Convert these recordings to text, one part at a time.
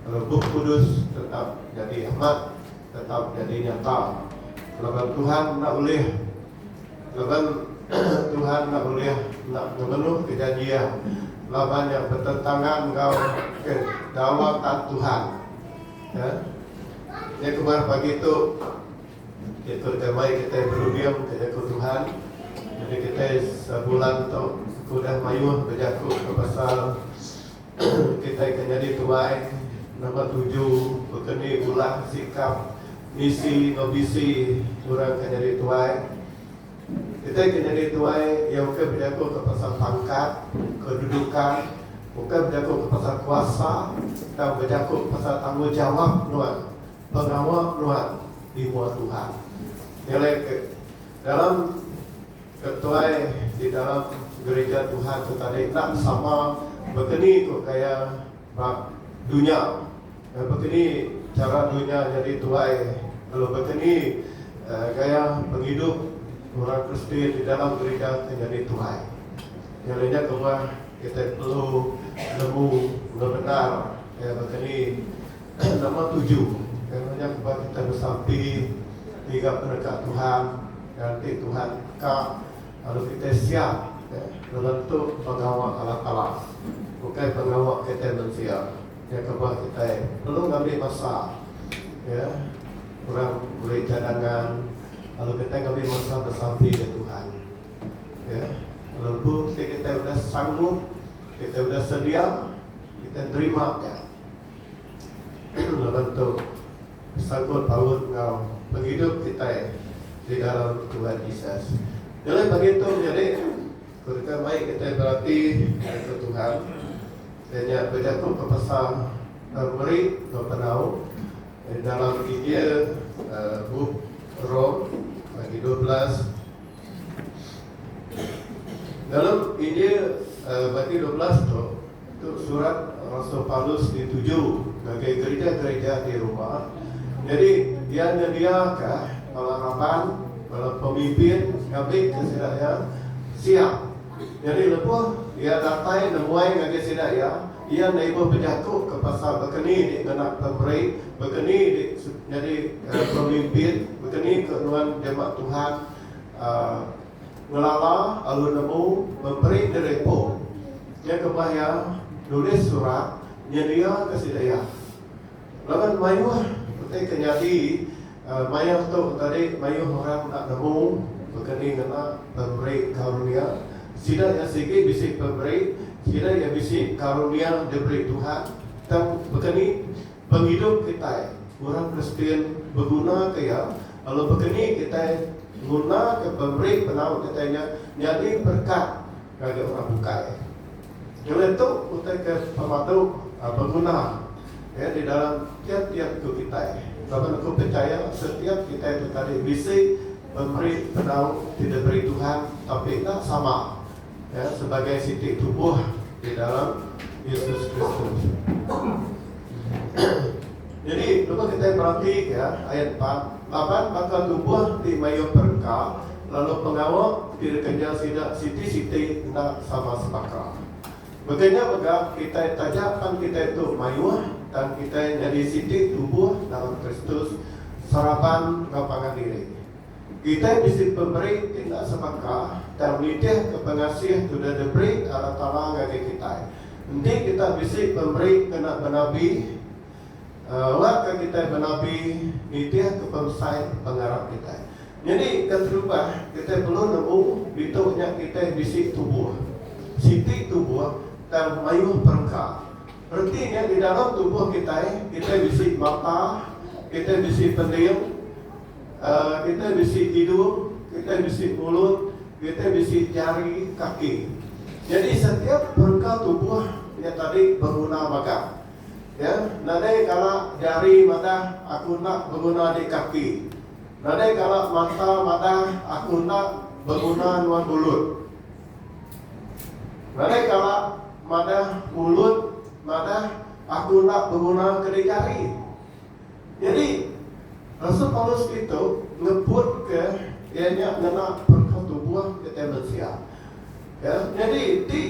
Bup Kudus tetap nyadi amat, tetap nyadi nyata, laban Tuhan enda ulih laban Tuhan enda ulih enda ngemenuhka janji Iya laban iya betentangan enggau kedaulatan Tuhan. Ya. Nya kemah pagi tu Jaku deka mai kitai berunding ke Jaku Tuhan. Jadi kitai sebulan tu aku udah mayuh bejaku ke pasal Kitai ke nyadi tuai nambah tuju beken ni ulah sikap misi enggau bisi orang ke nyadi tuai. Kitai ke nyadi tuai iya ukai bejakuka pasal pangkat, kedudukan, ukai bejakuka pasal kuasa tang bejaku pasal tanggungjawap nuan, pengawa nuan di mua Tuhan. Nyelai ke dalam. Ke tuai di dalam gerija Tuhan tu tadi enda sama bekeni ku gaya ba dunya. Nya bekeni chara dunya nyadi tuai lalu bekeni gaya pengidup orang Kristi di dalam gerija ti nyadi tuai. Nya alai nya kebuah kitai perlu nemu enggau bendar gaya bekeni. Nama tuju kena nyam ba kitai besampi ngiga peneka Tuhan nganti Tuhan teka lalu kitai siap ngelentu pengawa alah alah ukai pengawa kitai mensia nya kebah kitai perlu ngambi masa ya orang meri cadangan lalu kitai ngambi masa besampi ngen Tuhan ya lalu empu ti kitai udah sanggup kitai udah sedia kitai nerima nya. Laban tu, besangkut paut enggau pengidup kitai di dalam Tuhan Jesus. Nyelai pagi tu menyadi, ku deka mai kitai berati ngagai ke Tuhan, iya nya bejakuka pasal meri enggau penau di dalam Injil bup Rom bagi dua belas. Dalam Injil bagi dua belas tu. Itu surat rasul Paulus dituju ngagai gerija-gerija di Roma. Nyadi, iya nyediaka bala raban, bala pemimpin ngambika sida iya siap. Nyadi lebuh iya datai nemuai ngagai sida iya, iya enda ibuh bejakuka pasal baka ni dik ngena pemeri, baka ni dik nyadi pemimpin, baka ni ke nuan jemah Tuhan. Pengelala alu nemu meperi derepo nya kemah iya nulis surat nyediaka sida iya. Laban mayuh peti ke nyadi maya tu tadi mayuh orang enda nemu bekeni ngena pemeri karunia sida iya sigi bisi pemeri sida iya bisi karunia diberi Tuhan tang bekeni pengidup kitai orang Kristian begunaka iya lalu bekeni kitai ngunaka pemeri penau kitai nya nyadi berkat ngagai orang bukai. Nyelai tu utai ke pemadu beguna iya di dalam tiap-tiap tu kitai laban aku pechaya setiap kitai tu tadi bisi pemeri penau ti diberi Tuhan tapi enda sama Iya sebagai siti tubuh di dalam Yesus Kristus. Jadi, cuba kita perhati ya, ayat 4. Laban baka tubuh ti mayuh perengka, lalu pengawa ti dikenyau sida siti-siti enda sama sebaka. Baka nya mega, kitai taja pan kitai tu mayuh tang kitai nyadi siti tubuh dalam Kristus seraban enggau pangan diri. Kitai bisi pemeri ti enda sebaka tang nitihka pengasih ke udah diberi Allah Taala ngagai kitai. Enti kita bisi pemeri kena benabi, awakka kitai benabi nitihka pemesai pengarap kitai. Nyadi ke terubah, kitai perlu nemu ditu nya kitai bisi tubuh. Siti tubuh tang mayuh perengka. Reti nya di dalam tubuh kitai, kitai bisi mata, kitai bisi pending, Kitai bisi hidung, kitai bisi mulut, kitai bisi jari, kaki. Jadi setiap perengka tubuh nya tadi beguna mega. Ya, nadai kala jari madah aku enda beguna di kaki. Nadai kala mata madah aku enda beguna nuan mulut. Nadai kala madah mulut madah aku enda beguna ke di jari. Nyadi, rasul Paulus ditu ngebutka iya nya ngena perengka tubuh kitai mensia. Ya, nyadi enti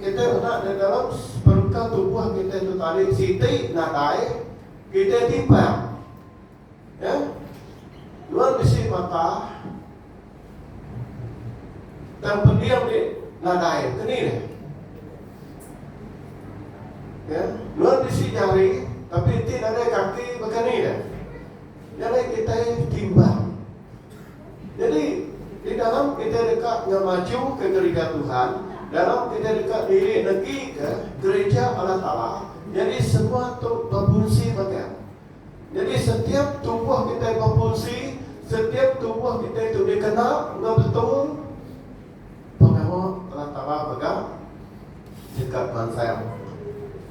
kitai meda di dalam perengka tubuh kitai tu tadi siti nadai kitai timpang. Ya. Nuan bisi mata. Tang pendiau ti nadai keni deh. Ya, nuan bisi jari tapi enti nadai kaki bekeni deh. Nyadi kitai timbang. Nyadi di dalam kitai deka ngemajuka gerija Tuhan, dalam kitai deka diri negika gerija Allah Taala, nyadi semua tu bepunsi mega. Nyadi setiap tubuh kitai befungsi, setiap tubuh kitai tu dikena enggau betul pengawa Allah Taala mega nyengkak mansang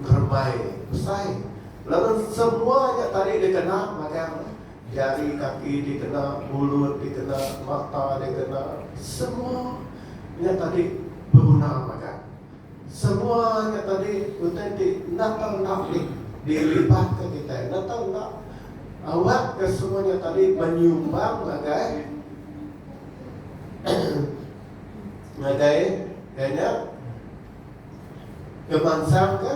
ngerembai besai laban semua nya tadi dikena magang jari kaki dikena mulut dikena mata dikena semua nya tadi beguna magang. Semua nya tadi utai ti enda tau enda di dilibatke kitai, enda tau enda awak ke semua nya tadi menyumbang ngagai ngagai ngagai nya ngemansangka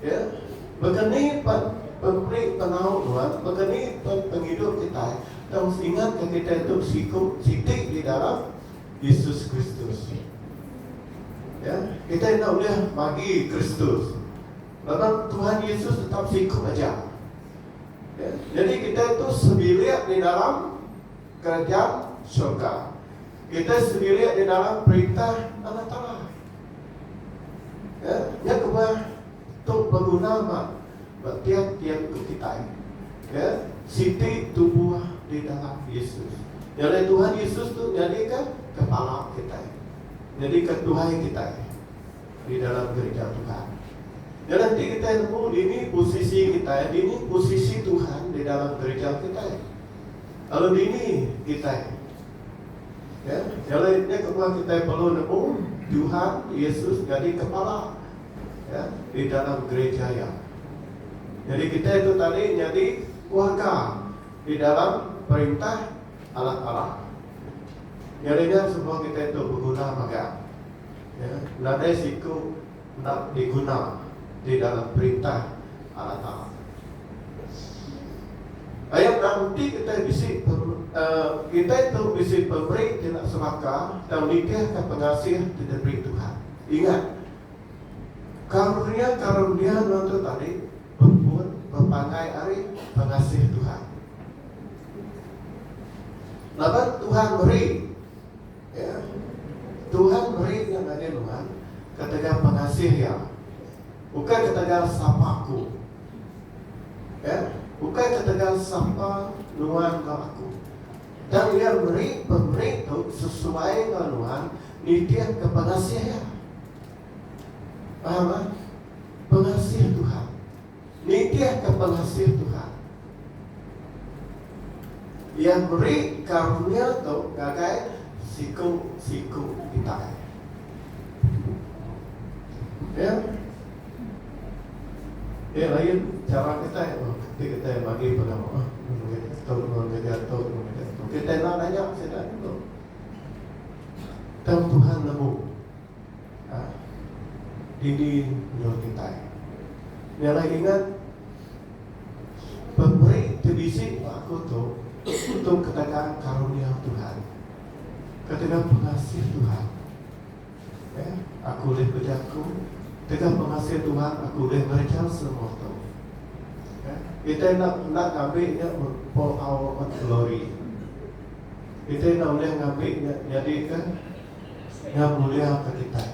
Ya, baka ni pan pemeri penau nuan, baka ni pan pengidup kitai, tang mesti ingatka kitai tu besiku siti di dalam Yesus Kristus. Ya, kitai enda ulih magi Kristus. Laban Tuhan Yesus tetap siku aja. Ya, jadi kitai tu sebilik di dalam kerajaan syurga. Kitai sendiri di dalam perintah Allah Taala. Ya, nya kebuah tu beguna ba ba tiap-tiap tu kitai. Ya, siti tubuh di dalam Yesus. Nyadi Tuhan Yesus tu nyadi ka kepala kitai. Nyadi ka tuai kitai di dalam gereja Tuhan. Dan nanti kita nemu dini posisi kita, dini posisi Tuhan di dalam gereja kita. Lalu dini kita Okey. Jadi nya kebuah kitai perlu nemu Tuhan Yesus nyadi Kepala ya di dalam gereja Iya. Jadi kitai tu tadi nyadi keluarga di dalam perintah Allah Taala. Jadi nya semua kitai tu beguna mega. Ya. Nadai siku. enda diguna di dalam Perintah Allah Taala. Ayat enda menti kitai bisi kitai tu bisi pemeri ti enda sebaka tang nitihka pengasih ti diberi Tuhan. Ingat, karunia-karunia nuan tu tadi bepun bepanggai ari pengasih Tuhan. Laban Tuhan meri. Ya. Tuhan meri nya ngagai nuan ketegal pengasih Iya. Ukai ketegal sapa aku. Ya. Ukai ketegal sapa nuan enggau aku. Dan Iya meri pemeri tu sesuai enggau nuan nitihka pengasih Iya. Paham ah? Pengasih Tuhan. nitihka pengasih Tuhan. Iya meri karunia tu ngagai siku-siku kitai. Ya. Ya, lain cara kitai oh, ketika kitai bagi pengawa. Oh, tu, mengaja tu, mengaja tu. Kitai nak nanya sida tu. Tang Tuhan nemu. Ha. Didi nyuh kitai. Nya alai ingat pemeri ti bisi ba aku tu tu ketegal karunia Tuhan. Ketegal pengasih Tuhan. Eh, aku ulih bejaku tegal pengasih Tuhan aku ulih ngereja semua tu. Eh, kitai enda enda ngambi nya for our own glory. Kitai enda ulih ngambi nya nyadika Iya muliaka kitai.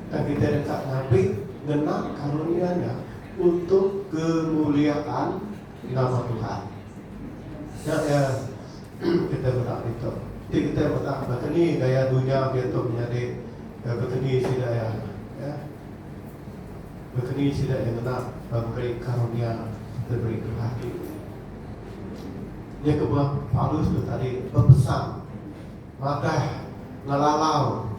Tang kitai deka ngabi ngena karunia nya untuk kemuliaan nama Tuhan. Nya iya kitai meda ditu. Ti kitai meda baka ni gaya dunya diatu menyadi eh, baka ni sida iya ya. Baka ni sida iya ngena memberi karunia diberi Tuhan diri. Nya kebuah Paulus tu tadi bepesan Madah ngelalau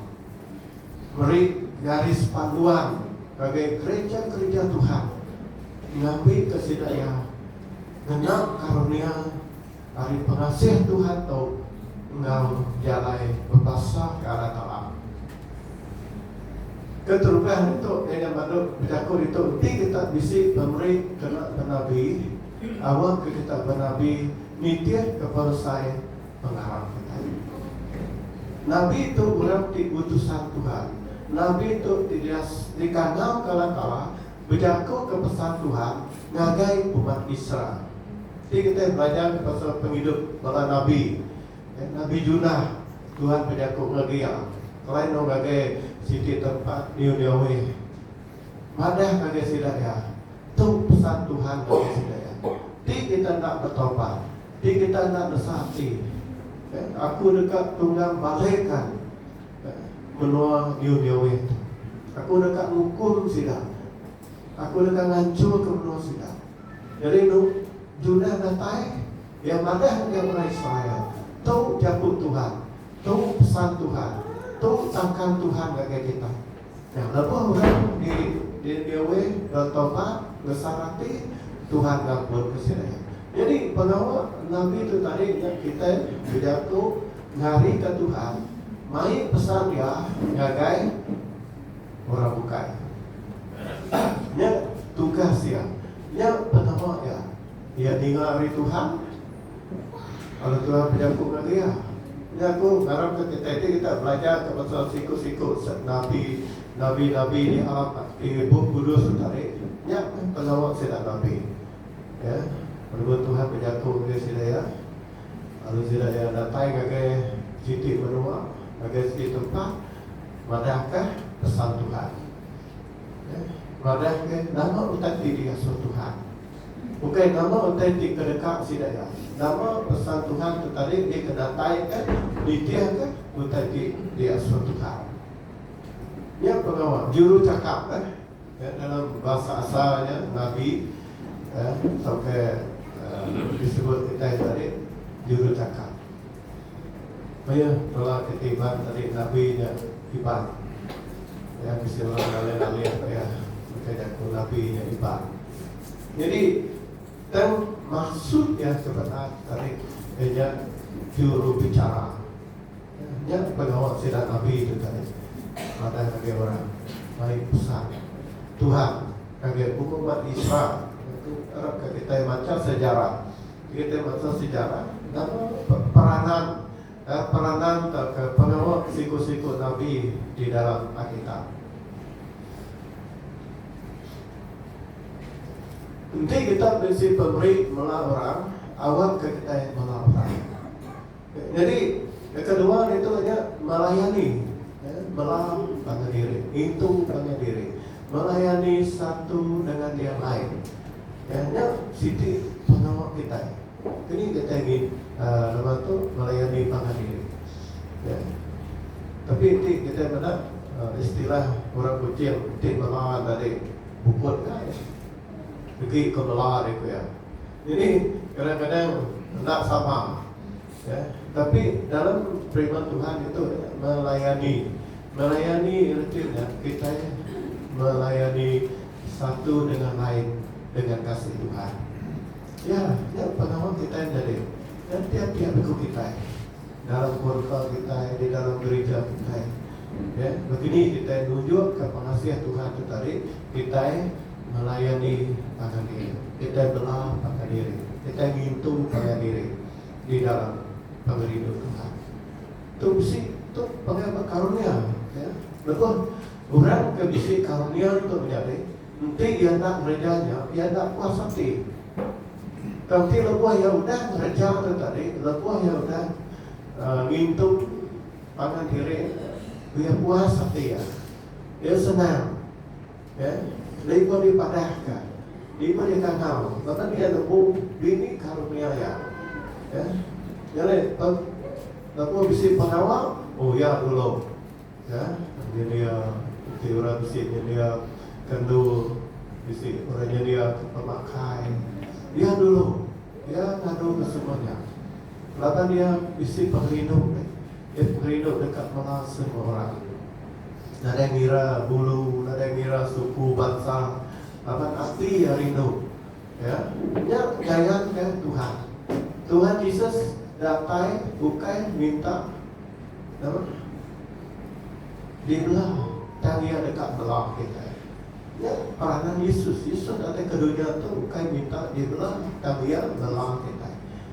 meri garis panduan ngagai gereja-gereja Tuhan ngambika sida iya ngena karunia ari pengasih Tuhan tu enggau jalai bebasaka anak Allah. Keterubah ditu, Daniel badu bejaku ditu, Enti kita bisi pemeri kena benabi, awa ke kita benabi nitihka peresai pengarap kita nya. Nabi tu orang ti utusan Tuhan. Nabi tu ti dias dikandauka Allah Taala bejakuka pesan Tuhan ngagai umat Israel. Ti kitai belajarka pasal pengidup bala nabi. Nabi Junah, Tuhan bejaku ngagai iya, Kelai enggau ngagai siti tempat Niniwe. Madah ngagai sida iya, Tu pesan Tuhan ngagai sida iya, Ti kita enda betaubat, ti kita enda nesa ati aku deka tunggang balekan menua New Newit aku deka ngukum sida aku deka nganchurka menua sida jadi enu Judah datai iya madah ngagai orang Israel tu jaku Tuhan tu pesan Tuhan tu sangkan Tuhan ngagai kita. Nya lebuh orang di Niniwe betobat ngesal ati, Tuhan ngampunka sida iya. Nyadi pengawa nabi tu tadi nya kitai bejaku ngarika Tuhan mai pesan Iya ngagai orang bukai. Nya tugas Iya. Nya pengawa Iya. Iya ninga ari Tuhan Kala Tuhan bejaku enggau iya, nya aku ngarapka kitai ti deka belajarka pasal siku-siku nabi, nabi-nabi di alam di Bup Kudus tu tadi, nya meh pengawa sida nabi. Ya, penemu Tuhan bejaku ngagai sida iya, lalu sida iya datai ngagai siti menua, ngagai siti tempat madahka pesan Tuhan. Madahka, nama utai ti diasuh Tuhan? Ukai nama utai ti ke deka sida iya. Nama pesan Tuhan ke tadi dikenataika nitihka utai ti diasuh Tuhan? Nya pengawa juruchakap ke dalam bahasa asal nya nabi tauka disebut kitai tadi juruchakap. Pia bala ke tiban tadi nabi nya iban. Pia bisi orang ngalih-ngalih pia ngagai jaku nabi nya iban. Nyadi tang maksud iya ke benar tadi iya nya jurubicara. Nya pengawa sida nabi tu tadi madah ngagai orang mai pesan Tuhan ngagai umat Israel. Nya tu arapka kitai macha sejarah. Kitai masa sejarah nama peranan peranan tauka pengawa siku-siku nabi di dalam Alkitab. Enti kita bisi pemeri melah orang, awakka kitai melah orang. Nyadi ke kedua ditu nya melayani bala pangan diri ngintu pangan diri melayani satu dengan yang lain nya siti pengawa kitai kini kitai ngintu uhh lebuh tu melayani pangan diri ya tapi ti kitai meda istilah orang kuching ti mela tadi bukut kai degi ke mela ri ku iya. Jadi kadang-kadang enda sama ya tapi dalam firman Tuhan itu melayani melayani reti nya kitai melayani satu dengan lain dengan kasih Tuhan. Ya, ya pengawa kitai jadi dan tiap-tiap iku kitai dalam kurka kitai di dalam gereja kitai. Ya, begini kitai nunjukka pengasih Tuhan tu tadi kitai ngelayani pangan diri, kitai bela pangan diri, kitai ngintu pangan diri di dalam pengerindu Tuhan. Tu bisi tu panggil ba karunia ya. Lebuh orang ke bisi karunia tu menyadi, enti iya enda ngereja nya, iya enda puas ati. Tang ti lebuh iya udah ngereja tu tadi, lebuh iya udah uh, ngintu pangan diri, iya puas ati iya. Iya senang Lalu dipadahka, lalu dikatau, Baka ni enda bu bini karunia iya? Nyadi tembu bisi pengawa, oh iya dulu. Nyendia enti orang bisi nyendia kendu, bisi orang nyendia pemakai, iya dulu. Iya ngaduka semua nya laban iya bisi pengerindu, iya pengerindu deka melar semua orang. nadai ngira bulu, nadai ngira suku bansa laban ati iya rindu iya. Nya gayanka Tuhan. Tuhan Jesus datai ukai minta nama dibela tang iya deka bela kitai. Nya peranan Yesus. Yesus datai ke dunya tu ukai minta dibela tang iya bela kitai.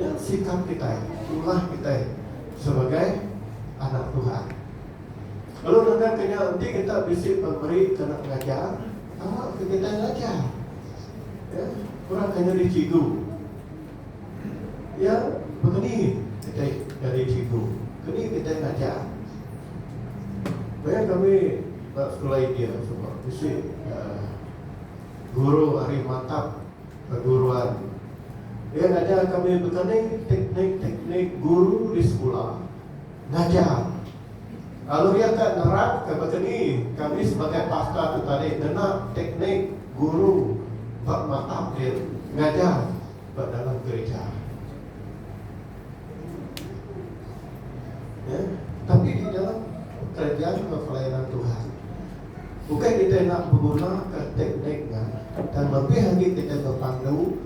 Nya sikap kitai, tulah kitai sebagai anak Tuhan. Lalu nangkapka nya, enti kita bisi pemeri ke enda mengajar, awakka kitai ngajar. Ya, kurangka nyadi cigu. Ya, bekeni kitai nyadi cigu? Keni kitai ngajar? Maya kami ba sekula India suba, bisi uh, guru ari matap Perguruan. Iya ngajar kami betani teknik-teknik guru di sekula ngajar. Lalu iya ka nerapka baka ni kami sebagai pastor tu tadi ngena teknik guru ba mata pin ngajar ba dalam gerija. Tapi di dalam pekerja enggau pelayanan Tuhan. Ukai kitai enda begunaka teknik nya, tang lebih agi kitai bepandu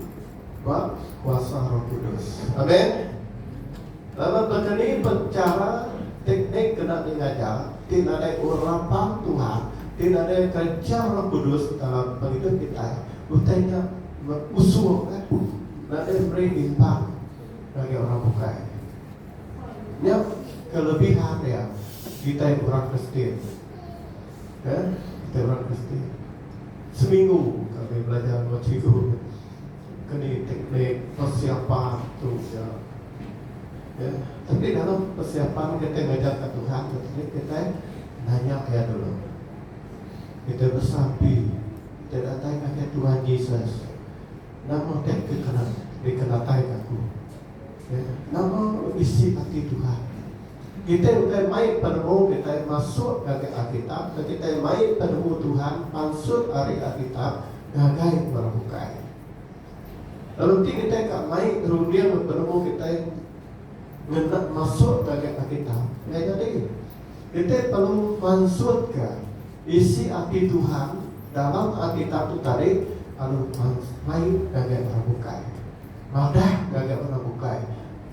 ba kuasa Roh Kudus. Amen. Laban baka ni pen chara teknik ke enda dingajar ti nadai urapang Tuhan, ti nadai kereja Roh Kudus dalam pengidup kitai, utai nya usuka nadai meri imbang ngagai orang bukai. Nya kelebihan dia kitai orang Kristian. He, kita orang Kristian seminggu kami belajar enggau cikgu ke ni teknik persiapan tu ja. Ya, tapi dalam persiapan kita ngajar ke Tuhan tu tadi kita nanya dia dulu. Kita bersapi, kita datang ke Tuhan Yesus. Nama dia kekena dikenatai aku. Ya, nama isi hati Tuhan. Kitai ukai mai penemu kitai masuk ngagai Alkitab tang kitai mai penemu Tuhan pansut ari Alkitab ngagai orang bukai. Lalu ti kitai ka mai runding penemu kitai ngena masuk ngagai Alkitab enggai nyadi. Kitai perlu mansutka isi ati Tuhan dalam Alkitab tu tadi lalu mai ngagai orang bukai. Madah ngagai orang bukai.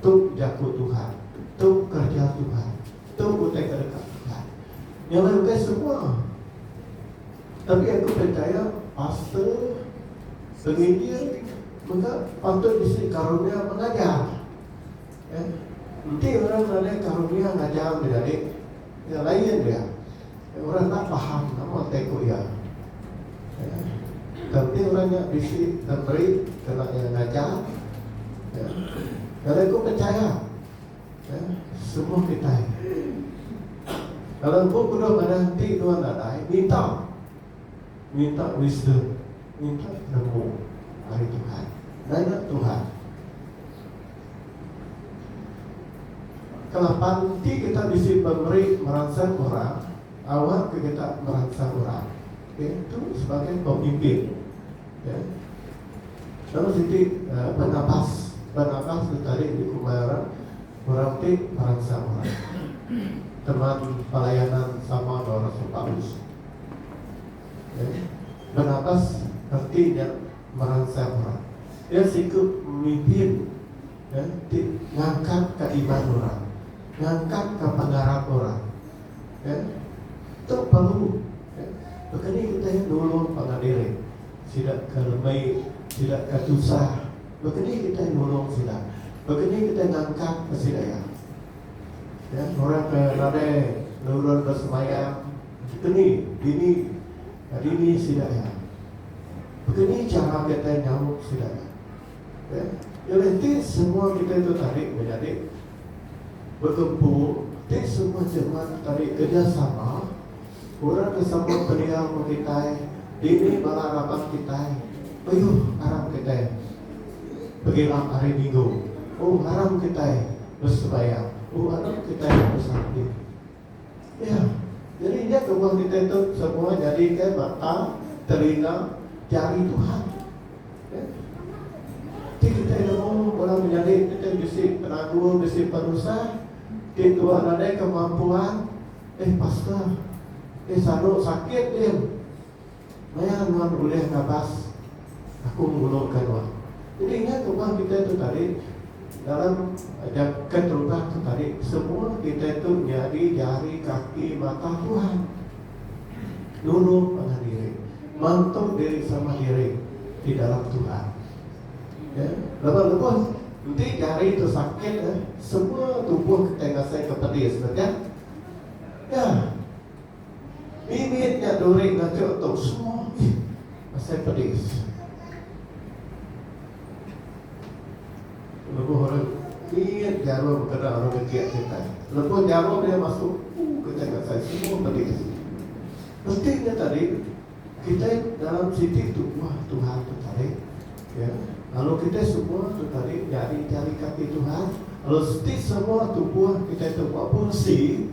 Tu jaku Tuhan, tu kereja Tuhan, tu utai ke deka Tuhan nyuruh ke semua. Tapi aku pechaya pastor penginjil mega patut bisi karunia mengajar. Eh, enti orang nadai karunia ngajar menyadi, Nya lain dia. Orang enda faham nama utai ku iya. Tang enti orang nya bisi ngemeri kena iya ngajar. Kali aku pechaya semua kitai. Kala empu ku dua ngadah enti dua nadai minta Minta wisdom, minta penemu ari Tuhan. Nanya Tuhan. Kelapan ti kita bisi pemeri meransang orang, awak ke kita meransang orang. Okay, tu sebagai pemimpin. Okay. Lalu siti uh, penabas, penabas tu tadi di kumai orang, orang ti meransang orang. Teman pelayanan sama dengan Rasul Paulus. Jadi Barnabas reti nya meransang orang. Iya siku pemimpin ti ngangkatka iman orang, ngangkatka pengarap orang. Tu perlu. Baka ni kita aja nulung pangan diri sida ke lemai, sida ke tusah. Baka ni kita nulung sida? Baka ni kita ngangkatka sida iya? Orang ke nadai nurun besembahyang. Dikeni dini dini sida iya. Bekeni chara kitai nyaut sida iya. Okey. Jadi ti semua kitai tu tadi meh nyadi begempung, ti semua jeman tu tadi kerjasama orang ke sama pendiau enggau kitai, dini bala raban kitai beyuh aram kitai begila hari minggu. Oh aram kitai besembahyang. Oh aram kitai besampit. Iya. Jadi nya kebuah kitai tu semua nyadika mata, telinga, jari Tuhan. Ya. Ti kitai nemu orang menyadi kitai bisi penagu, bisi penusah, ti tuan nadai kemampuan, eh pastor, eh saru sakit dia. Maya nuan ulih ngabas, Aku ngulungka nuan. Jadi ingat rumah kitai tu tadi, dalam jagat rumah tu tadi, semua kitai tu nyadi jari kaki mata Tuhan. Nulung manah diri, mantuk diri sama diri di dalam Tuhan. Ya, laban lebuh enti jari tu sakit, semua tubuh kitai ngasaika pedis, betul? Ya. Bibit nya duri ngancuk tu semua ih asai pedis. Lebuh orang mit jarum kena orang ngejek kitai. Lebuh jarum nya masuk uh kitai ngasai semua pedis. Mesti nya tadi kitai dalam siti tu wah Tuhan tu tadi ya lalu kitai semua tu tadi nyadi jari kaki Tuhan lalu siti semua tubuh kitai tu ba beresi.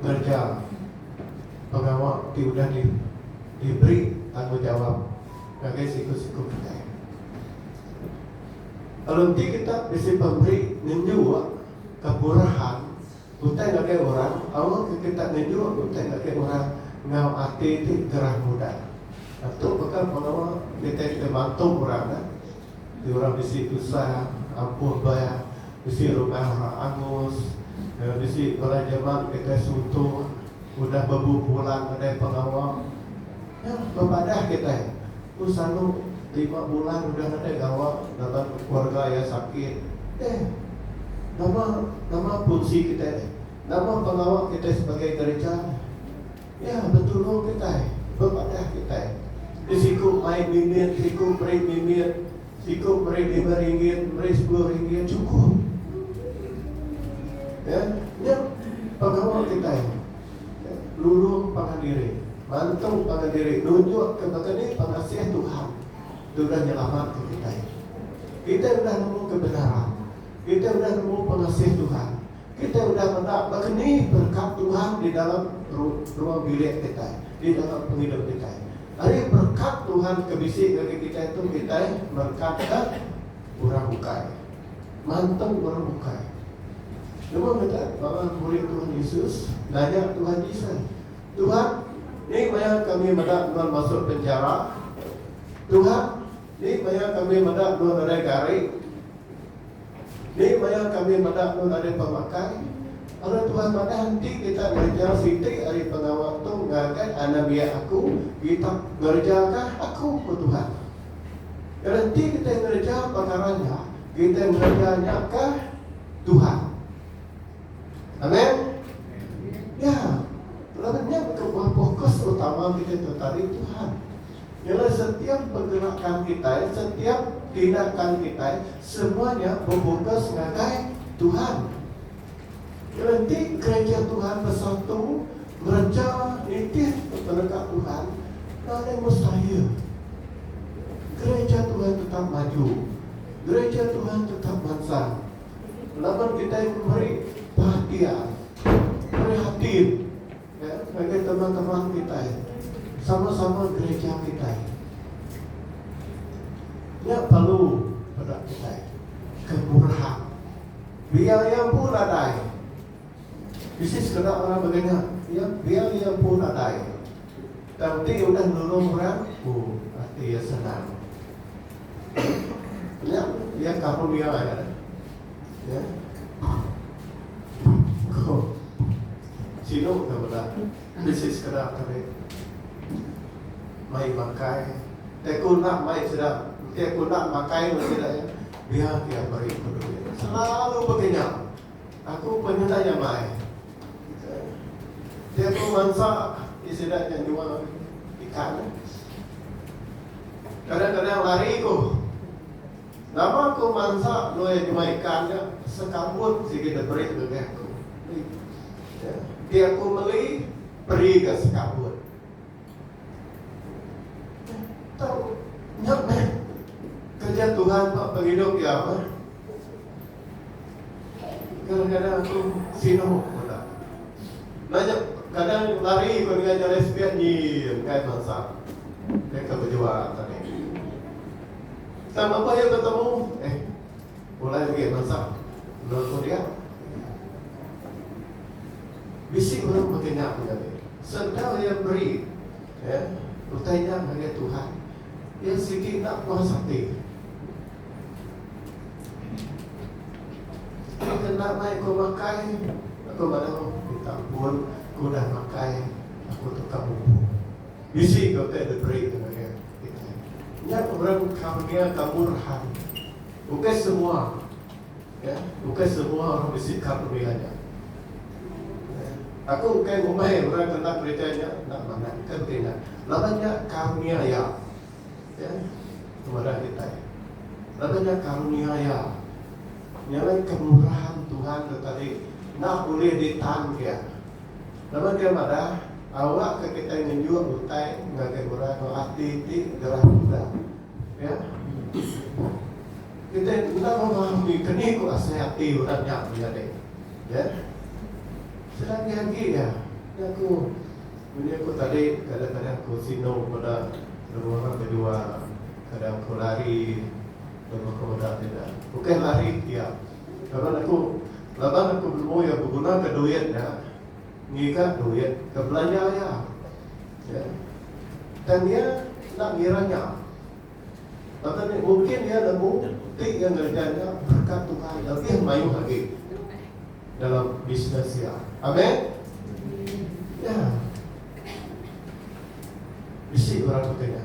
ngereja pengawa ti udah diberi tanggungjawap ngagai siku-siku kitai. Lalu enti kita bisi pemeri ngenjuk keburahan utai ngagai orang, aur ke kita ngenjuk utai ngagai orang enggau ati ti gerah mudah. Atu baka pengawa kitai ti mantu orang. Ti orang bisi tusah ampuh bah bisi rumah orang angus enggau bisi orang jeman ngagai suntung udah bebu pulang nadai pengawa. Nya bepadah kitai ku Sanu lima bulan udah nadai gawa laban keluarga iya sakit. Deh nama nama punsi kitai deh. Nama pengawa kitai sebagai gereja deh. Iya betulung kitai, bepadah kitai. Ti siku mai bimbit, siku meri bimbit, siku meri lima ringgit, meri sepuluh ringgit, chukup. Ya, nya pengawa kitai. Ya, lulung pangan diri, mantung pangan diri, nunjukka baka ni pengasih Tuhan ti udah nyelamatka kitai. Kitai udah nemu kebenaran, kitai udah nemu pengasih Tuhan. Kitai udah meda baka ni berekat Tuhan di dalam ruang bilik kitai, di dalam pengidup kitai. Ari berekat Tuhan ke bisi ngagai kitai tu kitai merekatka orang bukai, mantu orang bukai. Lebuh meda bala murid Tuhan Yesus nanya Tuhan Jesus, Tuhan, ni maya kami meda nuan masuk penjara? Tuhan, ni maya kami meda nuan nadai gari? Ni maya kami meda nun ari pemakai, lalu Tuhan madah enti kita ngereja siti ari pengawa tu ngagai anak biak aku, kita ngerejaka aku, ku Tuhan. Kena enti kitai ngereja pekara nya, kitai ngereja nya ke Tuhan. Amen. Ya, laban nya kebuah fokus utama kitai tu tadi Tuhan. Ialah setiap pengerakan kitai, setiap tindakan kitai, semua nya bepokus ngagai Tuhan. Ialah enti gereja Tuhan bersatu ngereja nitih penegap Tuhan, enda ada mustahil. Gereja Tuhan tetap maju. Gereja Tuhan tetap mansang. Laban kitai meri perhatian, prihatin. Ngagai teman-teman kitai sama-sama gereja kitai, nya perlu peda kitai ke murah. Biar iya empu nadai, bisi sekeda orang mega nya, iya biar iya empu nadai, tang ti udah nulung orang, oh ati iya senang. Nya iya kaul iya. Sinu ke meda bisi sekeda kami mai makai te ku enda mai sida enti ku enda makai enggau sida iya biar iya meri ku duit selalu bagi nya aku pun nyenda iya mai tiap ku mansa ti sida nya nyual ikan kadang-kadang lari ku. Nama ku mansa nuai pemai ikan nya sekambut sigi deberi nengah ku. Enti aku meli peri ga sekambut. Tau nya meh kerja Tuhan ba pengidup iya meh. Kadang kadang aku sinu meda. Enda nya kadang lari ku nengah jalai spian nyii engkai mansa deka bejual tadi. Sama ba iya betemu eh pulai agi bansa endur ku dia. Bisi ulun baka nya ku nyadi. Senda iya meri eh utai nya ngagai Tuhan. Iya sigi enda puas ati. Ti kena mai ku makai aku bala ku minta ampun ku udah makai aku tukar umbu. Bisi ke utai diberi deka ngagai kitai. Nya orang karnia kemurahan. Bukai semua ya, bukai semua orang bisi karnia nya. Aku ukai ngumbai orang ke enda gereja nya enda manah, ukai baka nya. Laban nya karnia Iya ya ngemara kitai. Laban nya karnia Iya nya alai kemurahan Tuhan ke tadi enda ulih ditan Iya. Nama ke madah, awak ke kitai ngenjuk utai ngagai orang enggau ati ti gerah meda? Iya. Kitai enda memahami keni ku asai ati orang nya menyadi. Iya. Selagi agi iya, jaku munyi aku tadi kadang-kadang aku sinu meda lebuh orang bedua, kadang aku lari lebuh aku meda sida. Ukai lari iya. Laban aku laban aku benemu iya begunaka duit nya ngiga duit ke belanja iya. Ya. Tang iya enda ngira nya. Laban nya mungkin iya nemu ti iya ngereja nya berkat Tuhan lebih mayuh agi dalam bisnes iya. Amin. Ya. Bisi orang pakai nya.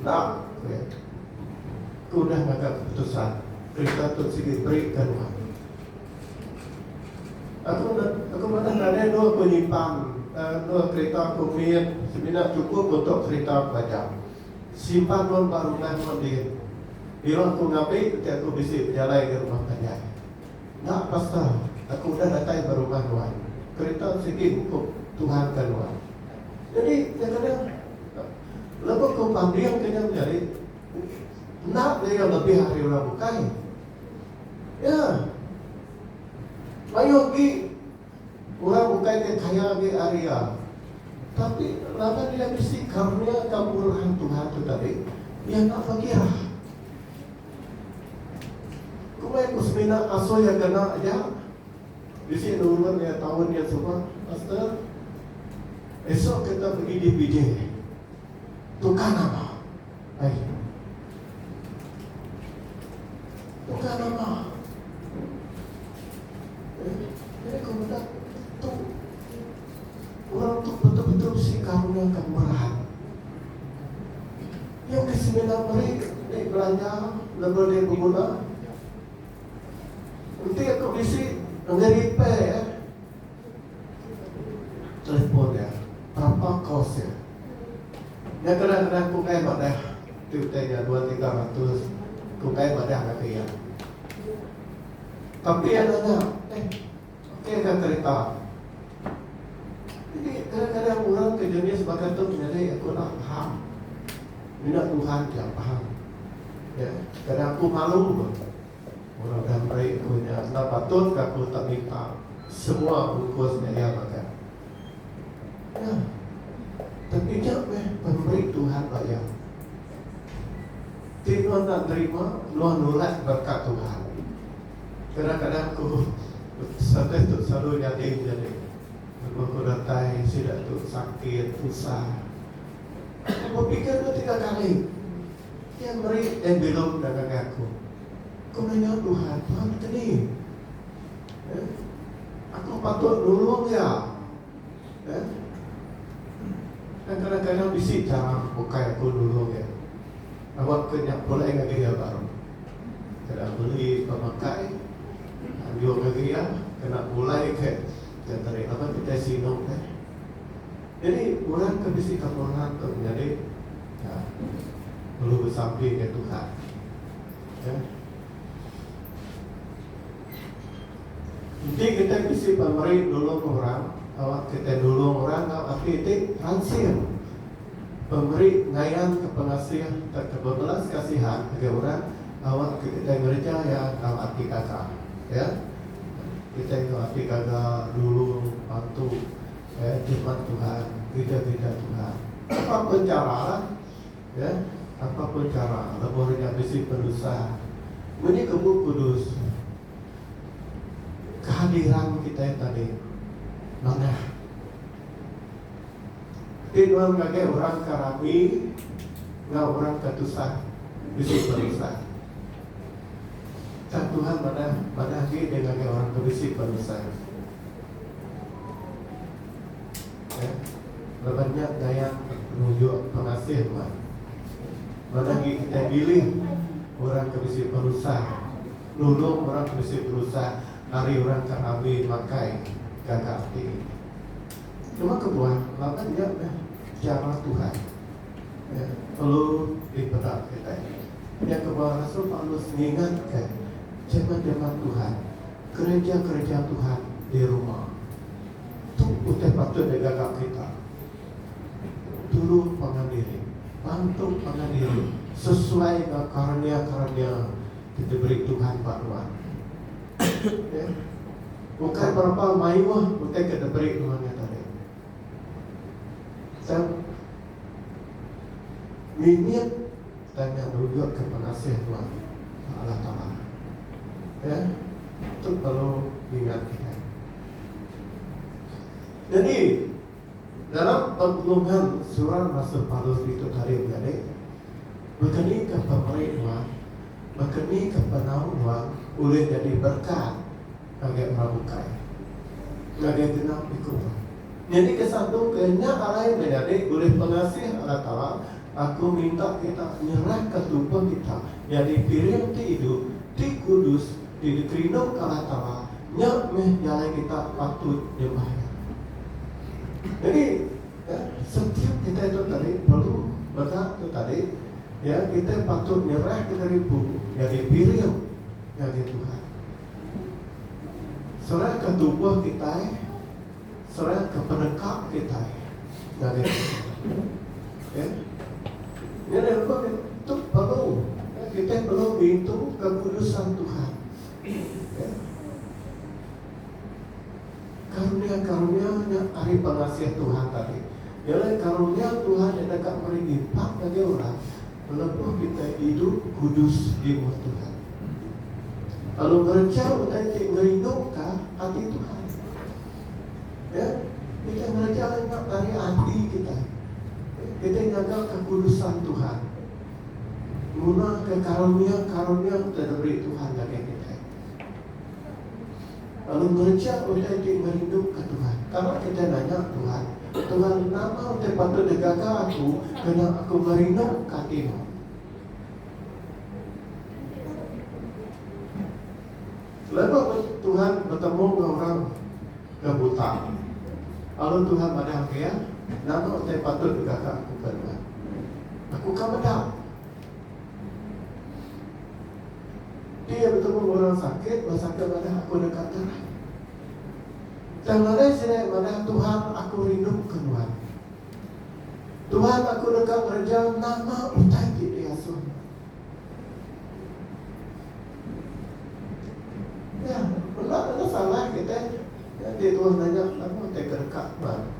Endang meh. Aku udah ngaga keputusan perintah tu sigi beri ke rumah tu. Aku udah aku madah nadai dua penyimpang eh dua kereta aku mit semina chukup untuk kereta aku aja. Simpan ulun ba rumah nuan din. Bila aku ngambi enti aku bisi bejalai ke rumah panjai. Enda pasta aku udah datai ba rumah nuan. Kereta tu sigi hukum Tuhan ke nuan. Nyadi nyakana. Lebuh ku pambing ke nya menyadi enda meri iya lebih ari orang bukai. Ya. Mayuh agi orang bukai ti kaya agi ari iya. Tapi laban iya bisi karunia enggau pengurahan Tuhan tu tadi, iya enda pekirah. Ku meh ku semina asuh iya kena aja. Bisi nurun iya taun nya suba, Pastor. Esok kita pegi DPJ. Tukar nama. Ai. Tukar nama. Eh, jadi ku meda tu orang tu betul-betul bisi karuniakan berat. Iya ke semina meri dek belanja laban dek beguna. Enti aku bisi enggai repair iya. Telefon iya. Tapa kos iya. Nya kadang-kadang aku enggai madah ti utai nya dua tiga ratus. Aku enggai madah ngagai iya. Tapi iya nanya, eh. Okey ka kereta. Jadi kadang-kadang orang ke jenis baka tu nyadi aku enda faham. Mina Tuhan aja faham. Ya, kadang aku malu ba. Orang udah meri aku nya enda patut ka aku tak minta semua ungkus nya iya makai. Ya. Tapi nya meh pemeri Tuhan ba iya. Ti nuan enda nerima, nuan nulak berkat Tuhan. Kadang-kadang tubuh Sates tu selalu nyadi menyadi lebuh ku datai sida tu sakit tusah. Aku bepikir enda tiga kali iya meri Dayang Bilong enda ngagai aku. Ku Nyonya Tuhan, Tuhan nekeni. Aku patut nulung iya. Tang kadang-kadang bisi chara bukai aku nulung iya. Aba ke nya pulai ngagai iya baru. Kena beli pemakai anjung ngagai iya kena pulai ke genterik laban kitai sinu ke. Jadi orang ke bisi kemuran tu menyadi perlu besampi enggau Tuhan. Ya. Enti kitai bisi pemeri nulung orang, aba kitai nulung orang enggau ati ti ransing. Pemeri ngayanka pengasih sereta bebelas kasihan ngagai orang ngawakka kitai ngereja iya enggau ati gaga. Ya. Kitai enggau ati gaga nulung, bantu, ya, jimat Tuhan, gereja-gereja Tuhan. Apa pun chara lah. Ya. Apa pun chara lebuh nya nya bisi penusah. Munyi ke Bup Kudus, kehadiran kitai tadi manah. Ti nuan ngagai orang ka rami enggau orang ka tusah bisi penusah. Tang Tuhan madah madah agi Dia ngagai orang ke bisi penusah. Ya, laban nya gaya penunjuk pengasih nuan. Madah agi kitai milih orang ke bisi penusah, nulung orang ke bisi penusah ari orang ka rami makai gaga ati. Cuma kebuah laban iya meh chara Tuhan ke perlu dipeda kitai. Pia kebuah rasul Paulus ngingatka jeman-jeman Tuhan, kereja-kereja Tuhan di Roma. Tu utai patut digaga kita, Tulung pangan diri, bantu pangan diri sesuai enggau karnia-karnia ti diberi Tuhan ba nuan. Ukai perempa mayuh utai ke diberi nuan nya tadi. Sam. Mimit tanya nuga ke pengasih nuan ba Allah Taala. Ya. Tu perlu diingat kitai. Nyadi. Dalam penulungan seorang basa Palus ditu tadi menyadi, bekenika pemeri nuan, bekenika penau nuan ulih nyadi berkat ngagai orang bukai, ngagai genap iku nuan. Nyadi ke satu ke nya arai menyadi ulih pengasih Allah Taala, aku minta kita nyerahka tubuh kita nyadi piring ti idup, ti kudus, ti dikerinduka Allah Taala, nya meh jalai kita patut nyembah Iya. Jadi, ya, setiap kitai tu tadi perlu mega tu tadi, ya, kitai patut nyerahka diri empu nyadi piring ngagai Tuhan. Serahka tubuh kitai. Thread ke peneka kitai ngagai Tuhan. Okay. Nya dah lebuh ke tu perlu. Okay. Kitai perlu ngintu kekudusan Tuhan. Okay. Karunia-karunia nya ari pengasih Tuhan tadi. Ialah karunia Tuhan nya deka meri impak ngagai orang. Lebuh kitai idup kudus di muka Tuhan, lalu ngereja utai ti ngerinduka ati Tuhan, ya, kitai ngereja nya ari ati kitai. Kitai ngaga kekudusan Tuhan ngunaka karunia-karunia ti diberi Tuhan ngagai kitai. lalu ngereja utai ti ngerinduka Tuhan. Tama kitai nanya Tuhan, Tuhan, nama utai patut digaga aku kena aku ngerinduka ati Mu? Lebuh Tuhan betemu enggau orang ke buta, lalu Tuhan madahka iya, Nama utai patut digaga aku kena aku ka meda? Nya iya betemu orang sakit ba saka madah aku deka ngerai. Tang nadai sida iya madah Tuhan aku rinduka nuan. Tuhan aku deka ngereja nama utai ti diasuh nuan. Nya menda enda salah kitai nganti Tuhan nanya nama utai ke deka nuan.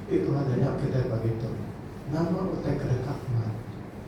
Ti Tuhan nanya kitai pagi tu, nama utai ke deka nuan?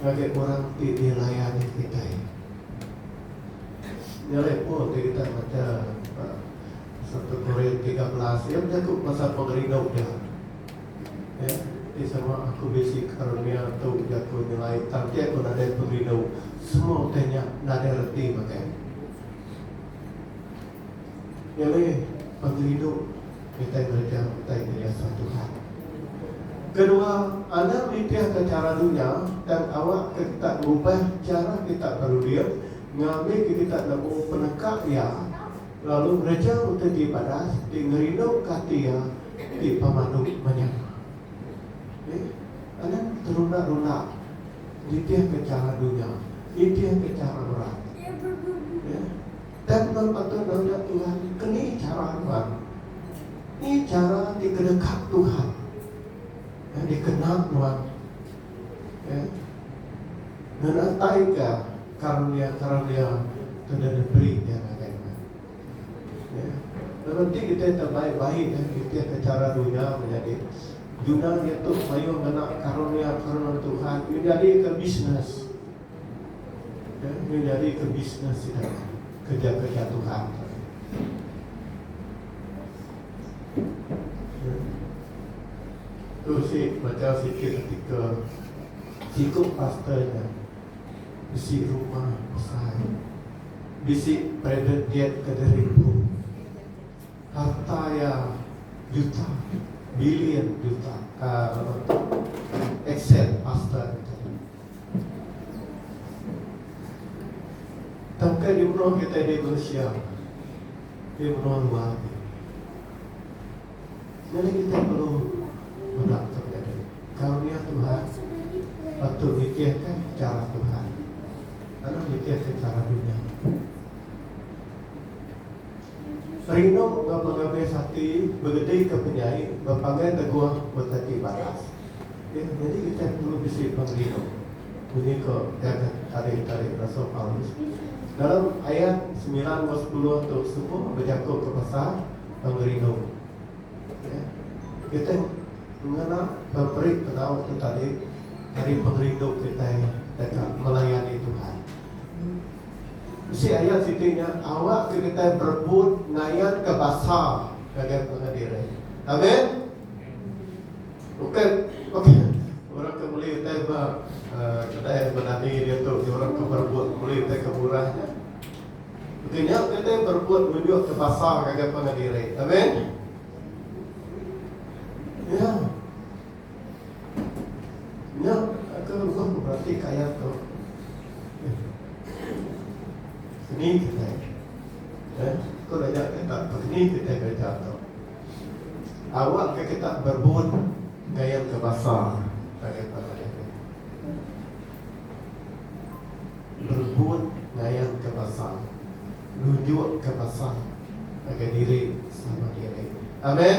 Ngagai orang ti dilayan nya kitai nyelai pun ti kitai macha ba satu Korin tiga belas iya bejaku pasal pengerindu dia eh ti sama aku bisi karunia tu jaku nyelai tang ti aku nadai pengerindu semua utai nya nadai reti baka iya. Nya meh pati rindu kitai ngereja utai ti diasuh Tuhan. Kedua, anang nitihka chara dunya tang awakka kita ngubah chara kita berunding ngambika kita nemu peneka Iya lalu ngereja utai ti badas ti ngerinduka ati Iya ti pemandu menyana. Nih, anang terunda-runda nitihka chara dunya, nitihka chara orang. Nih. Dan nuan baka nanya Tuhan, Keni chara nuan? Ni chara ti kedekap Tuhan eh, dikena nuan? Eh, ngenataika karunia-karunia ke dah diberi dia ngagai nuan. Eh, lalu ti kita terbaik-baik eh, kita ke chara dunia menjadi dunia dia tu mayuh ngena karunia-karunia Tuhan. Dia jadi ke bisnes. Dan iya nyadika bisnes sida ke diaga-aga Tuhan. Tu si peda sikit artikel siku pastor nya bisi rumah besai, bisi private jet ke diribu, harta iya juta, billion juta, aaa, aset pastor nya tadi. Tangkai di menua kitai di Malaysia, di menua luar agi. Nyadi kitai perlu meda tok nyadi karunia Tuhan patut nikirka chara Tuhan, anu nikirka chara dunya. Rindu enggau pengabis ati begedika penyai bepanggai teguh beteti baras. Iya nyadi kitai perlu bisi pengerindu menyuka gaga tarikh-tarikh rasul Paulus. Dalam ayat semilan enggau sepuluh tu semua bejakuka pasal pengerindu. Iya kitai ngena pemeri penau tu tadi ari pengerindu kitai deka melayani Tuhan. Bisi ayat siti nya awakka kitai berebut ngayanka basa ngagai penengah diri. Amen. Bukai orang ke meli utai ba kedai bedani diatu nya orang ke berebut meli utai ke murah nya. Baka nya kitai berebut nunjukka basa ngagai penengah diri. Amen. Ya. Nya ke ruhun beratik ayat tu. Kening kitai. Eh, ko dayak kita kening kitai gereja tu. Awak ke kita berebut ngayan ke basa ka kita tadi. Berebut ngayan ke basa. Nunjuk ke basa ngagai diri sama diri. Amen.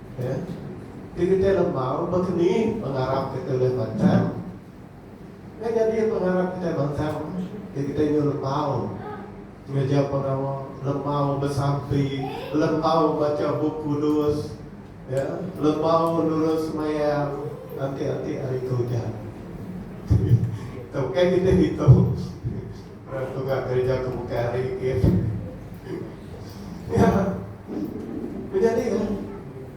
Ti kitai lembau baka ni pengarap kitai ulih mansang? Nya nyadi pengarap kitai mansang ti kitai nyau lembau ngereja pengawa, lembau besampi, lembau macha Bup Kudus, lembau nulung semayang enti-enti hari ke ujan. Tau kai kitai ngitung. Orang tungah kereja tu bukai hari gin. Nya menyadi lah.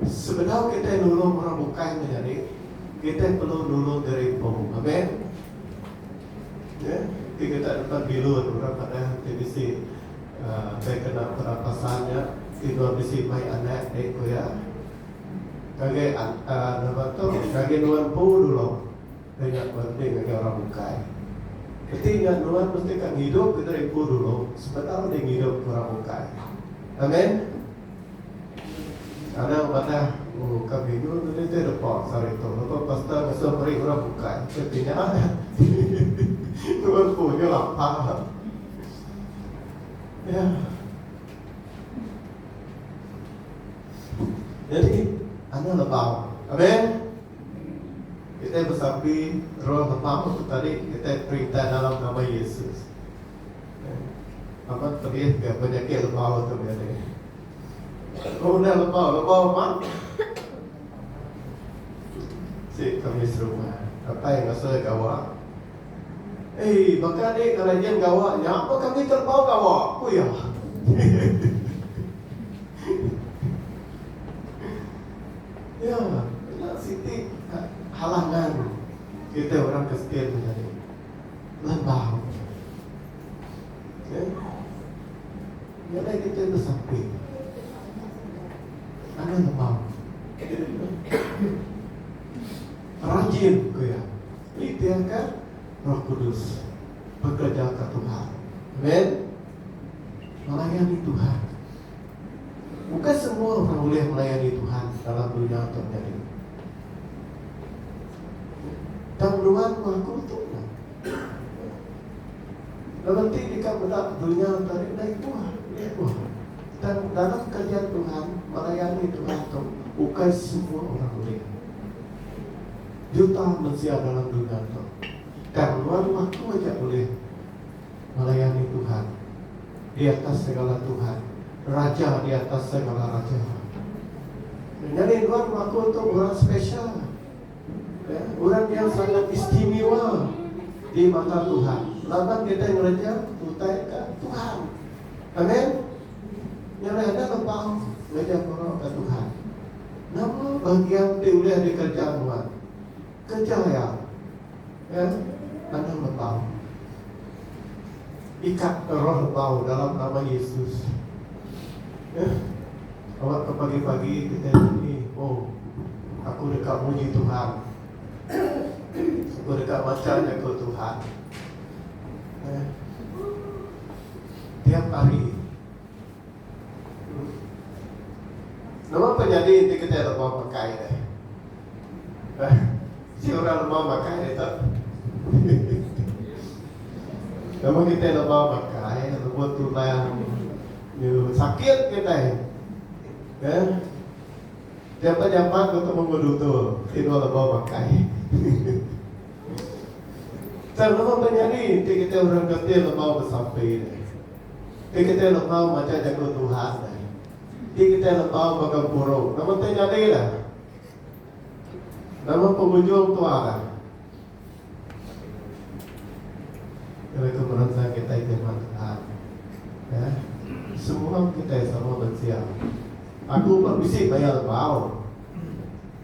Sebedau kitai nulung orang bukai menyadi, kitai perlu nulung diri empu. Amen. Nya ti kitai depan bilun orang padah ti bisi uhh deh kena perapasan nya ti nuan bisi mai anak deh ku iya. Ngagai uhh nama tu ngagai nuan empu nulung. Ke nya penting ngagai orang bukai. Keti nya nuan mesti ka ngidup ke diri empu dulu sebedau deh ngidup ke orang bukai. Amen. Anang madah, Oh, ka bingung tu deh te depa sehari tu lebuh pastor ngesuh meri orang bukai ke ti nya dah ti nuan empu nya lapa. Yah. Jadi, anang lebau. Amen. Kitai besapi roh Lepamu tu tadi kitai perintah dalam nama Yesus. Amat pedih ga penyakit Lepau tu meh ni. Ko udah Lepau, Lepau ma. Si kami serumah datai ngasa gawa. Eh, baka ni kena nyin gawa nya pa kami ke Lepau gawa, ku iya. Iya, nya siti ka halangan kitai orang Kristian menyadi landau. Okey. Nyadai kitai besampi. Anang lemau. Rajin ku iya. Nitihka Roh Kudus. Bekerejaka Tuhan. Amen. Melayani Tuhan. Bukai semua orang ulih melayani Tuhan dalam dunya tu nyadi. Tang nuan maku tu nya. Lalu ti deka meda dunya tadi dai tuah, ulih tuah. Tang dalam kerja Tuhan, melayani Tuhan tu bukai semua orang ulih. Juta mensia dalam dunya tu. Tang nuan maku aja ulih melayani Tuhan. di atas segala tuhan, raja di atas segala raja. Nyadi nuan maku tu orang special. Ya, orang yang sangat istimewa di mata Tuhan. Laban kita ngereja utai ke Tuhan. Amin. Nyadi ada lepas ngereja ke Tuhan. Nama bagian ti ulih dikerja nuan? Keja ya. Eh, tanah lebau. Ikat ke roh lebau dalam nama Yesus. Eh, awak ke pagi-pagi kita ni, oh, aku deka muji Tuhan. Aku deka baca jaku Tuhan. Eh, tiap hari. Nama pa nyadi enti kitai lema makai deh? Hah? Si orang lema makai deh tu. Nama kitai lema makai, lema tulang nyu sakit kitai. Hah? Jampat jampat ku temu ngu dutur, ti dua lema makai. Tang nama pa nyadi enti kitai orang kati lema besampi deh? Ti kitai lebau majak jaku Tuhan ai. Ti kitai lebau ba gempuru. Nama ti nyadi dah? Nama pengujung tua dah? Kena ke menensa kitai ti amat Tuhan. Ya. Semua kitai sama mensia. Aku ba bisi maya lebau.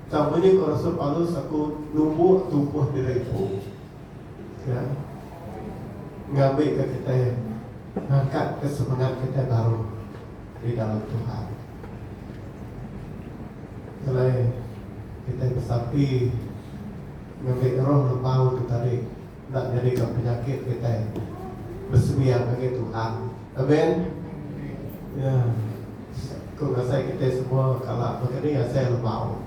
Tang munyi ko Rasul Paulus aku numbuk tumpuh diri ku. ke ngambika kitai ngangkatka semengat kitai baru di dalam Tuhan. Kelai kitai besampi ngambi roh lembau tu tadi enda nyadika penyakit kitai besembiang ngagai Tuhan. Amen. Ya. Ku ngasai kitai semua kala baka ni asai lembau.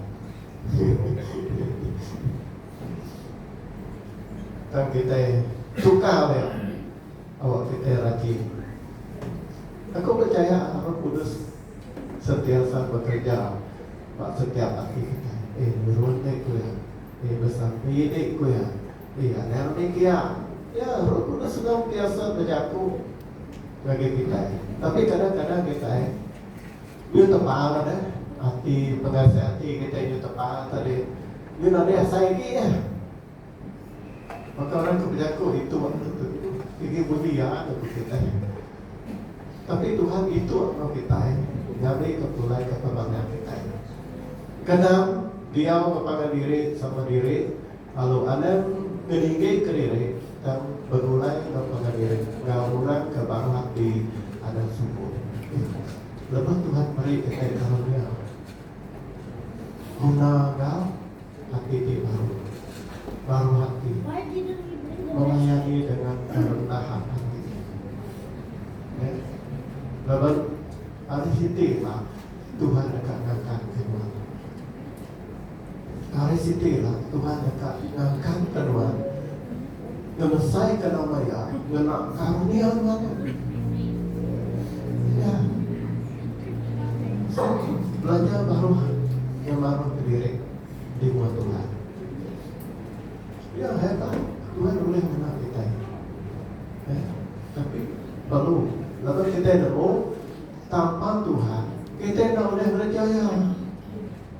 Tang kitai tukar dia awak kitai rajin. Aku pechaya Roh Kudus sentiasa bekereja ba setiap ati kitai. Eh nurun deh ku iya. Eh besampi deh ku iya. Eh anang deh ke iya. Ya, Roh Kudus senantiasa bejaku ngagai kitai. Tapi kadang-kadang kitai. Nyu tebal deh ati pengasih ati kitai nyu tebal tadi nyu nadai asai agi deh baka orang ke bejaku ditu sigi bunyi iya deh ku kitai tapi Tuhan ditu enggau kitai nyadi ke pulai ke temanah kitai. Keenam diau ngepaga diri sama diri. Alu Anang ke ninggei kediri tang begulai enggau pengadiri enggau orang ke baruh ati Anang Suku ikhlas lebuh Tuhan meri kitai karunia guna enggau ati ti baru, baruh ati, melayani dengan kerendahan ati. Neh laban ari siti ila Tuhan deka ngangkatka nuan. Ari siti ila Tuhan deka nangkan ke nuan ngelesaika nama Iya ngena karunia nuan tu. Nya. So, belajar baruh iya maruh ke diri di mua Tuhan. Iya, heta Tuhan ulih ngena kitai. Eh, tapi perlu laban kitai nemu tanpa Tuhan kitai enda ulih ngereja Iya.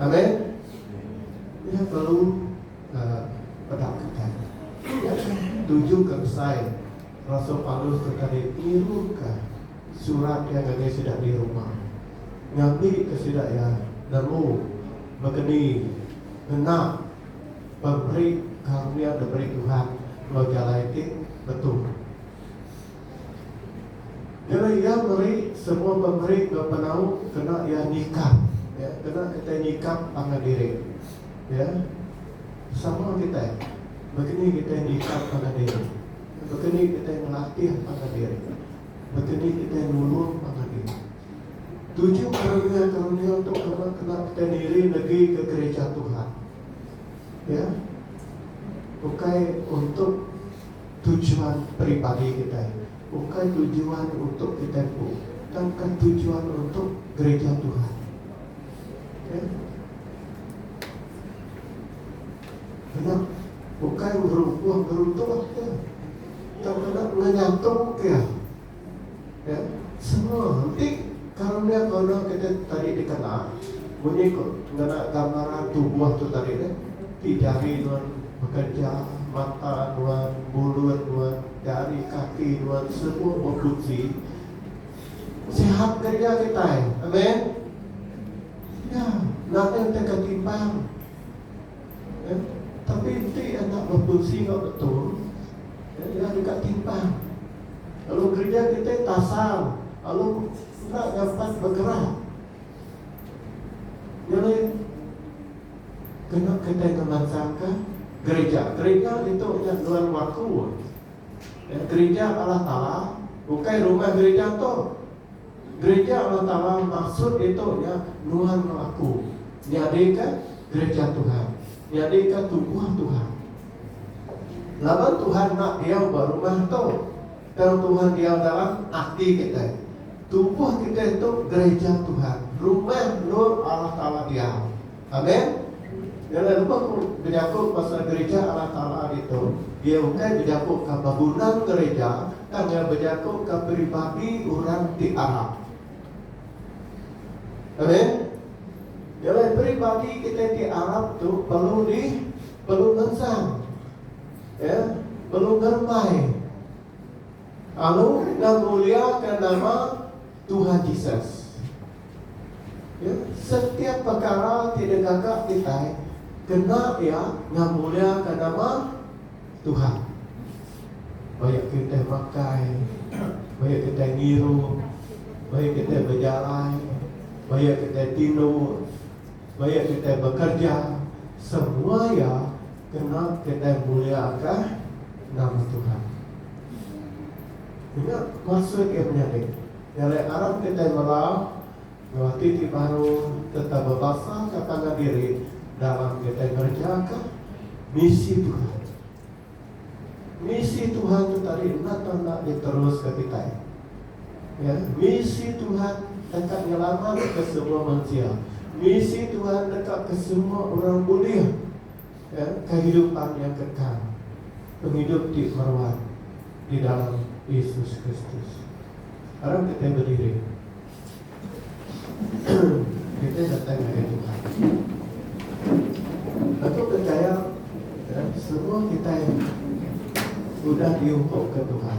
Amen. Nya perlu uh, pedakakan. Nya tuju ke besai Rasul Paulus sekali niruka surat yang ngagai sida di Roma. Ngambi ke sida ya nemu begeni ngena pemberi karunia diberi Tuhan lo jalai ti betul. Kena iya meri semua pemeri ba penau kena iya nyikap ya kena kitai nyikap pangan diri ya sama kitai baka ni kitai nyikap pangan diri baka ni kitai ngelatih pangan diri baka ni kitai nulung pangan diri tuju karunia-karunia tu kena kena kitai niri negi ke gereja Tuhan ya ukai untuk tujuan peribadi kitai, ukai tujuan untuk kitai empu, tauka tujuan untuk gerija Tuhan. Okay. Kena ukai ngerumpuh ngeruntuh ke, tauka kena ngenyatung ke. Nya. Semua enti karnia guna kita tadi dikena munyi ku ngena gambaran tubuh tu tadi deh ti jari nuan bekerja, mata nuan, mulut nuan, jari kaki nuan semua befunsi. Sihat kerja kitai. Amen. Nya. Nadai deka timbang. Kan. Tapi enti anak berfungsi enggau betul, kan, iya deka timpang. Lalu gereja kitai tasal lalu enda nyampat begerak. Nyelai kena kitai ngemansangka gereja. Gereja ditu nya nuan waku. Kan, gereja Allah Taala, ukai rumah gereja tu. Gereja Allah Taala maksud ditu nya nuan enggau aku nyadika Gereja Tuhan, nyadika tubuh Tuhan. Laban Tuhan enda diau ba rumah tu, tang Tuhan diau dalam ati kitai. Tubuh kitai tu gereja Tuhan, rumah endur Allah Taala diau. Amen. Ila lebuh ku bejaku pasal gerija Allah Taala ditu, iya ukai bejakuka bangunan gerija tang iya bejakuka peribadi orang ti arap. Amen. Ila peribadi kitai ti arap tu perlu di perlu ngensan. Ya, perlu ngerembai. Lalu ngemuliaka nama Tuhan Jesus. Ya, setiap pekara ti digaga kitai kena iya ngamulyakan nama Tuhan. Baya kitai makai, baya kitai ngirup, baya kitai bejalai, baya kitai tindur, baya kitai bekerja, semua iya kena kitai mulyakan nama Tuhan. Nya kuasa ke menyadi. Nyalai arap kitai mela ngerati ti baru sereta bebasaka pangan diri dalam kitai ngerejaka misi Tuhan. Misi Tuhan tu tadi enda tau enda diteruska kitai. Ya, misi Tuhan deka nyelamatka semua mensia. Misi Tuhan deka ke semua orang bulih. Ke kehidupan yang kekal, pengidup ti meruan di dalam Yesus Kristus. Aram kitai bediri. Kitai datai ngagai Tuhan. Aku percaya semua kitai udah diukup ke Tuhan.